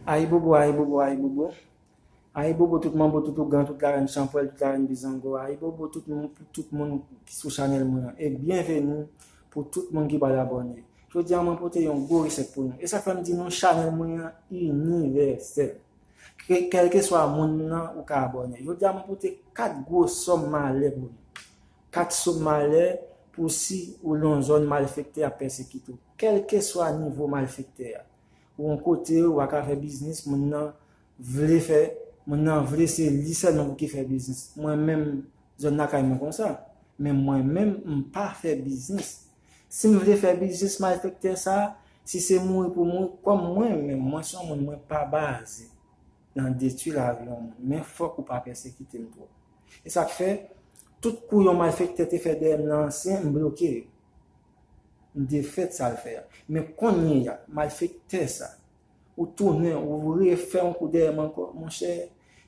Ayibobo ayibobo ayibobo Ayibobo tout manbo tout ougan tout larenn chanpwèl tout larenn bizango Ayibobo tout moun pou tout moun ki sou chanèl mwen an e byenveni pou tout moun ki pral abòne Jodi an mwen pote yon gwo resèt pou nou e sa k fè m di nou chanèl mwen an inivèsèl kèlkeswa moun nan ou ka abòne Jodi a mwen pote 4 gwo sòm malè pou nou 4 som malè pou si ou l yon zòn malfèktè ap pèsekite w kèlkeswa nivo malfèktè a Pou yon kote wa ka fè biznis moun nan vle fè moun nan vle se li sèlman pou ki fè biznis mwen menm zòn lakay mwen konsa men mwen menm m pa fè biznis si m vle fè biznis malfektè sa si se mouri pou mouri kòm mwen menm mwen son moun mwen pa baze nan detwi lavi yon moun men fòk ou pa pèsekite m twòp e sak fè tout kou yon malfektè te fè dèyè m nan ansyen m bloke yo M defèt sa l fè a. Men konyeya, malfektè sa, ou tounen, ou refè yon kou dèyè m ankò. Monchè,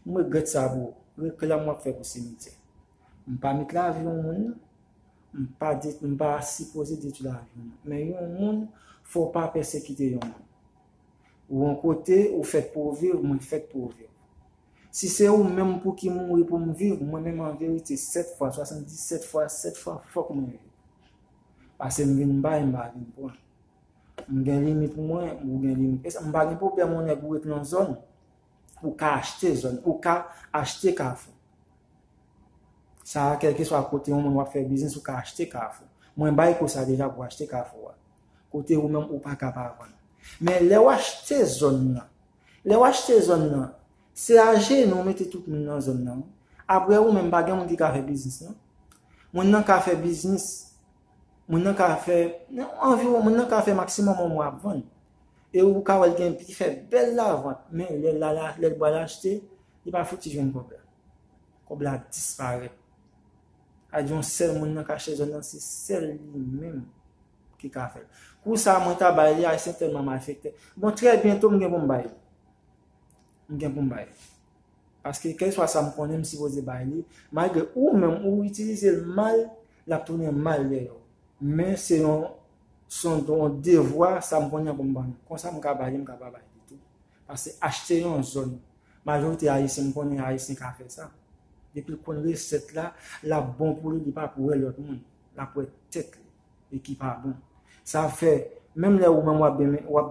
m regrèt sa pou ou. Reklam w ap fè pou simityè. M pa met lavi yon moun nan. M pa de, m pa sipoze detwi lavi yon moun. Men yon moun, fò w pa pèsekite yon moun. Ou yon kote, ou fèt pou w viv, mwen fèt pou viv. Si se ou menm pouki mouri pou m viv, mwen menm an verite 7 fwa, 77 fwa, 7 fwa fòk mwen viv. Pase m vin bay m pa vin pran. M gen limit mwen, ou gen limit. E sa m pa gen pwoblèm yon nèg ou ret nan zòn, ou ka achte zòn, ou ka achte kafou. Sa a kèlkeswa kote yon moun wap fè biznis ou ka achte kafou. Mwen bay kou sa deja pou achte kafou a. Kote ou menm ou pa ka pa vann. Men lè ou achte zòn nan. Lè w achte zòn nan, se a jenou w mete tout moun nan zòn nan wi. Aprè ou menm pa gen moun ki ka fè biznis nan. Moun nan ka fè biznis, moun nan ka fè, anviwon moun nan ka fè maksimòm yon mwa ap vann. E ou ka wè l gen, li fè bèl lavant men lè l al, lè l pral achte, li pa fouti jwenn kòb la. Kòb la disparèt. A di yon sèl moun nan ka achte zòn nan, se sèl li menm. ki ka fèt. Kou sa mwen ta bay li Ayisyen tèlman malfektè. Bon trè byento m gen pou m bay li. M gen pou m bay li. Paske kèlkeswa sa m konnen m sipoze bay li. Malgre ou menm ou itilize l mal, l ap tounen mal dèyè ou. Men se yon son yon devwa sa m konnen an pou m ban nou. Konsa m ka bay li m ka pa bay li tou. Pase achte yon zòn. Majorite Ayisyen m konnen Ayisyen ka fè sa. Depi l konn resèt la, l ap bon pou li li pa pou wè lòt moun. L ap wè tèt li. e ki pa bon. Sa ap fè, menm lè ou menm w ap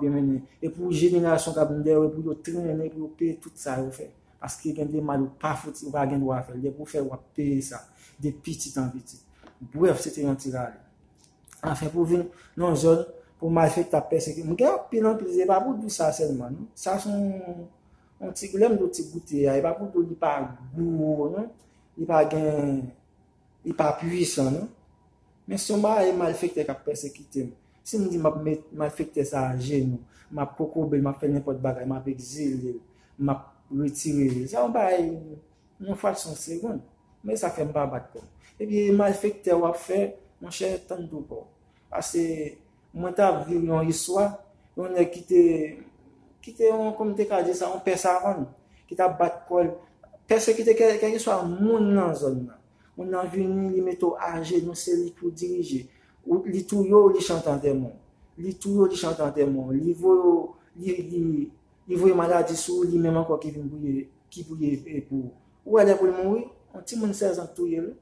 byen mennen, e pou jenerasyon k ap vin dèyè w, e pou yo trennen, pou yo peye tout sa yo fè. Paske gen de mal ou pa fouti, ou pa gen dwa fè l. Depi ou fè, w ap peye sa, de pitit an pitit. Brèf, se te yon ti rale. Anfen, pou vin nan yon zòn, pou malfektè ap pèsekite. M gen anpil anpil, se pa pou di w sa sèlman non. Sa se yon ti, lè m di w ti goute a, e pa pou di w li pa gou non, li pa gen Li pa pwisan non. Men son baay malfektè kap pèsekitem. Sim di map met malfektè sa ajenou, map kokobel, map fè nenpòt bagay, map egzilel, map retirel. Sa yon baay yon fraksyon segond. Men esa fèm pa bat kòm. Ebyen malfektè wap fè monchè tann pou kòw. Pase. Mwen ta viv yon istwa, yon nèg ki te, ki te yon, kòm m te ka di sa, yon pè savann, ki t ap bat kò l, pèsekite kè, kèlkeswa moun nan zòn nan. Moun nan vini, li mete w ajenou, se li pou dirije. Ou, li touye w, li chante antèman w. Li touye w, li chante antèman w. Li voye w, li, li, li voye maladi sou ou, li menm ankò ki vin pou ye, ki pou ye pou ou. Ou wè lè pou l mouri, yon timoun 16 an k touye l wi.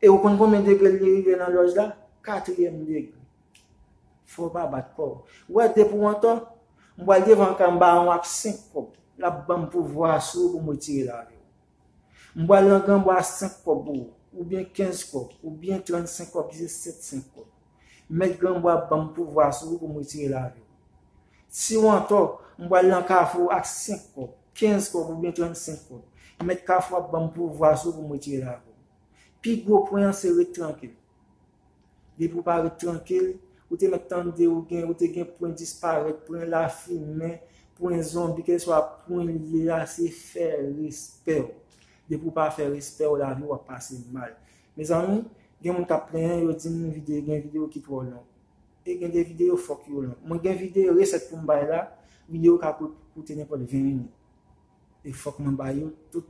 E ou konn konbyen degre li rive nan lòj la? Katriyèm degre. Fò w pa bat kò w. Ou wè depi ou antò, m pral devan Kan Bawon ak senk kòb. L ap ban m pouvwa a sou ou pou m retire lavi w. M pral nan Granbwa a senk kòb pou ou. Oubyen kenz kòb. Oubyen trannsenk kòb, disesenk kòb. Mèt Granbwa ap banm pouvwa sou ou pou m retire lavi w. Si w antò, m pral nan Kafou w ak 5 kòb, 15 kòb oubyen 35 kòb. Mèt Kafou ap banm pouvwa sou ou pou m retire lavi w. Pi gwo pwen an se ret trankil. Depi w pa ret trankil, ou te mèt tande ou gen ou te gen pwen disparèt, pwen lafimen, pwen zonbi, kèlswa pwen li ye a, se fè respè w. Depi w pa fè respè w, lavi w ap pase mal. Mezanmi gen moun kap plenyen yo dim vide gen video ki twò long e gen de video fòk yo long mwen gen vide resèt poum bay la video ka koute nenpòt 20 minit e fòk mwen bay yo tout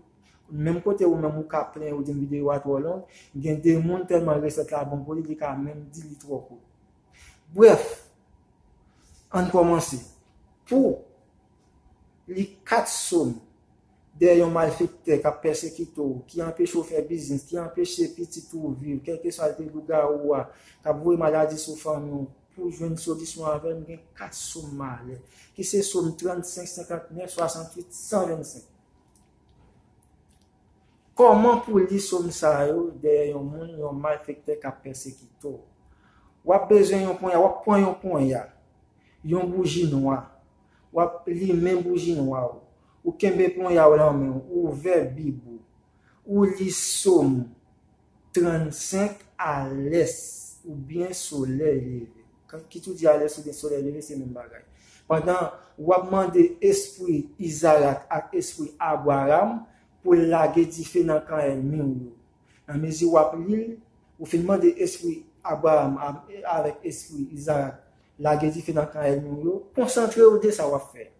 menm kote ou menm ou ka plenyen ou dim video a twò long gen de moun tèlman resèt la bon pou li li ka menm di li twò kout brèf ann kòmanse pou li 4 som. dèyè yon malfektè kap pèsekite w, ki anpeche w fè biznis, ki anpeche pitit ou viv, kèlkeswa l te lougawou a, kap voye maladi sou fanmi w, pou w jwenn solisyon avè m gen 4 som malè, ki se som 35, 59, 68, 125. Kòman pou w li som sa yo dèyè yon moun, yon malfektè kap pèsekite w? Wap bezwen yon ponya, wap pwan yon ponya, yon bouji nwa, wap limen bouji nwa w, Ou kenbe ponya w lan men w, ou ouvè Bib ou, ou li Som 35 alès oubyen solèy leve. Kit ou di alès oubyen solèy leve, se menm bagay. Pandan w ap mande espri Izarak ak espri Abwaram pou l lage dife nan kan ènmi w yo. Nan mezi w ap li l, ou fin mande espri Abwaram avèk espri Izarak lage dife nan kan ènmi w yo, konsantre w de sa w ap fè.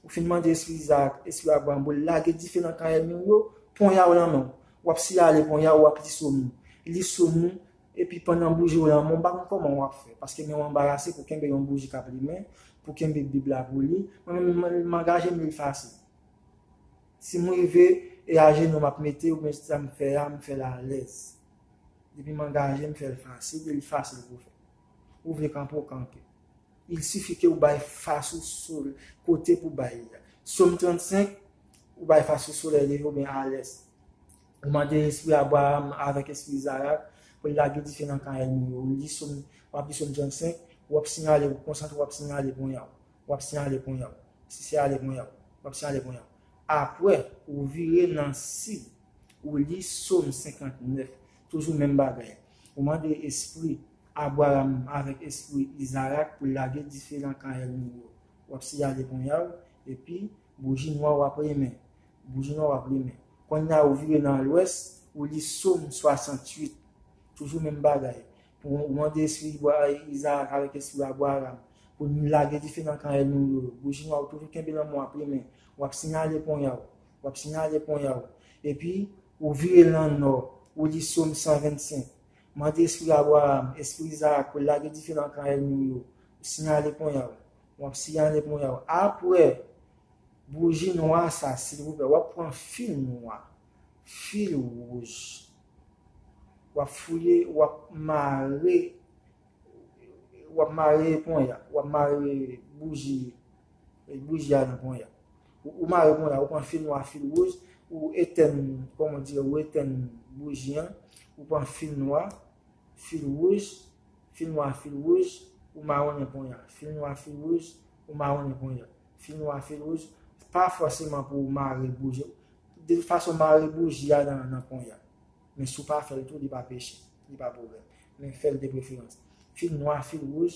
Ou fin mande espri Izarak, espri Abraram pou l lage dife nan kan ènmi w yo, ponya w nan men w. W ap siyale ponya w, w ap li so mou. Li so mou, epi pandan bouji w lan men w, m pa konn kòman w ap fè, paske men w anbarase pou kenbe yon bouji k ap limen, pou kenbe Bib la pou li. Mwen menm, m angaje m li l fasil. Si m rive, e ajenou m ap mete yo, men sa m fè a, m fè l alèz. Depi m angaje, m fè l fasil, e li fasil pou fè. Ou vle kanpe, w kanpe. Il suffit ke ou bay fas ou sou l, kote pou bay li a. Som 35, Ou bay fas ou solèy leve oubyen a lès. Ou mande espri Abraram avèk espri Izarak pou l lage dife nan kan ènmi yo. Ou li som, w ap li som 35, ou ap siyale, ou konsantre w ap siyale ponya w. W ap siyale ponya w. Sisiyale ponya w. W ap siyale ponya w. Apre, ou vire nan sid, ou li som 59. Toujou menm bagay. Ou mande espri. Abraram avèk espri Izarak pou lage dife nan kan èlmi yo. W ap siyale ponya w, epi, bouji nwa w ap limen. Bouji nwa w ap limen. Konnya ou vire nan lwès, ou li Som 68. Toujou menm bagay. Pou w mande espri Izarak avèk espri Abraram pou l lage dife nan kan èlmi yo. Bouji nwa w toujou kenbe nan men w ap limen. W ap siyale ponya w. W ap siyale ponya w. Epi, ou vire nan nò, ou li Som 125. Mande espri Abraram, espri Izarak pou l lage dife nan kan ènmi w yo. Ou siyale ponya w. W ap siyale ponya w. Apre bouji nwa sa, silvouplè, w ap pran fil nwa, fil wouj, w ap fouye, w ap mare, w ap mare ponya, w ap mare bouji, bouji a nan ponya. Ou mare konye a, ou pran fil nwa, fil wouj, ou etèn, kòm on dire, ou etèn bouji an, ou pran fil nwa, fil wouj, fil nwa, fil wouj, ou mawonnen konye a, fil nwa, fil wouj, ou mawonnen konye a, fil nwa, fil wouj, pa fòseman pou ou mare bouji an, de tout fason mare bouji a nan konye a, men si ou pa fè l tou li pa peche, li pa pwoblèm, men fè l de preferans, fil nwa, fil wouj,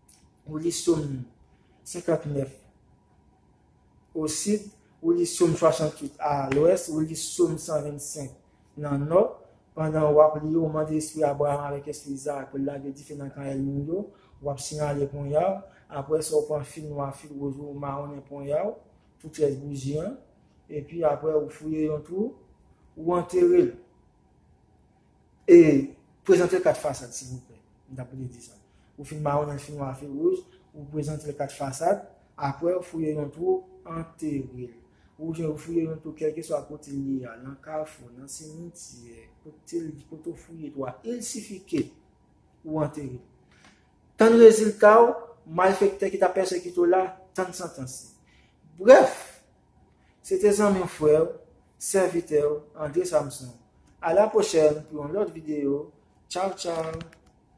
ou li Som 59 o sid, ou li Som 68 a lwès, ou li Som 125 nan nò, pandan w ap li yo, ou mande espri Abraram avèk espri Izarak pou l lage dife nan kan èlmi w yo, w ap siyale ponya w, apre sa w pran fil nwa, fil wouj ou, ou mawonnen ponya w pou tyès bouji an, epi apre ou fouye yon twou, ou antere l. E prezantel 4 fasad silvouplè. M ta priye di sa. Ou fin maronnen fi nwa fi wouj, ou prezantel 4 fasad, aprè ou fouye yon twou, anterel. Oubyen ou fouye yon twou kèlkeswa kote li ye a, nan kafou, nan simityè, kote li, kote ou fouye twou a, il sifi ke ou anterel. Tann reziltaw, malfektè ki ta pèsekite w la, tann santans li. Brèf, Se te zanmi w frè w, sèvitè w André Samson. A la pwochèn pou yon lòt videyo. Tchaw tchaw!